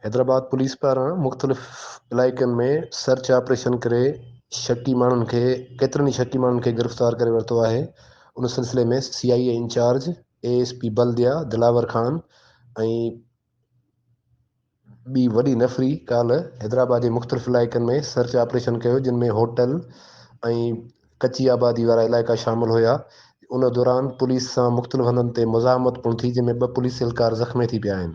Hyderabad police پاران مختلف علائقن ۾ سرچ آپريشن ڪري شڪي ماڻهن کي ڪيترن ئي شڪي ماڻهن کي گرفتار ڪري ورتو آهي ان سلسلي ۾ C I A in charge A S P Baldia Dilawar Khan ۽ ٻي وڏي نفري ڪالهه حيدرآباد جي مختلف علائقن ۾ سرچ آپريشن ڪيو جن ۾ هوٽل ۽ ڪچي آبادي وارا علائقا شامل هيا ان دوران پوليس سان مختلف هنڌن تي مزاحمت پڻ ٿي جنهن ۾ ٻه پوليس اهلڪار زخمي ٿي پيا آهن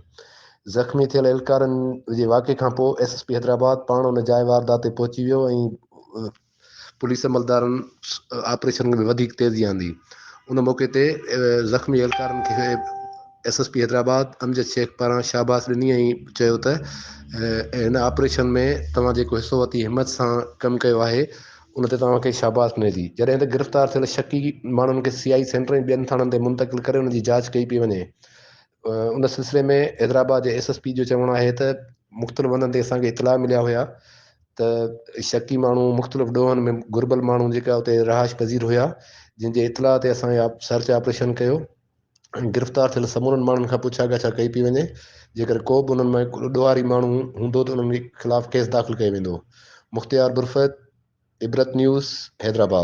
زخمي ٿيل اهلڪارن جي واقعي کانپوء ايس ايس پي حيدرآباد پاڻ ان جاء واردات تي پهچي ويو ۽ پوليس عملدارن آپريشن ۾ وڌيڪ تيزي آندي. ان موقعي تي زخمي اهلڪارن کي S S P Hyderabad Amjad Shaikh پاران شاباس ڏني ۽ چيو ته هن آپريشن ۾ توهان جيڪو حصو وتي همت سان ڪم ڪيو آهي ان تي توهان کي شاباس ملي ٿي. جڏهن ته گرفتار ٿيل شڪي ماڻهن کي سي آء سينٽر ۽ ٻين ٿاڻن تي منتقل ڪري انهن جي جاچ ڪئي پئي وڃي. ان سلسلي ۾ حيدرآباد جي ايس ايس پي جو چوڻ آهي ته مختلف هنڌن تي اسان کي اطلاع مليا هيا ته ته شڪي ماڻهو مختلف ڏوهن ۾ گهربل ماڻهو جيڪا اتي رهائش پذير هيا جن جي اطلاع تي اسان سرچ آپريشن ڪيو ۽ گرفتار ٿيل سمورن ماڻهن کان پڇا ڳاڇا ڪئي پئي وڃي جيڪر ڪو به انهن ۾ ڏوهاري ماڻهو هوندو ته انهن خلاف ڪيس داخل ڪيو ويندو مختيار برفت عبرت نيوز حيدرآباد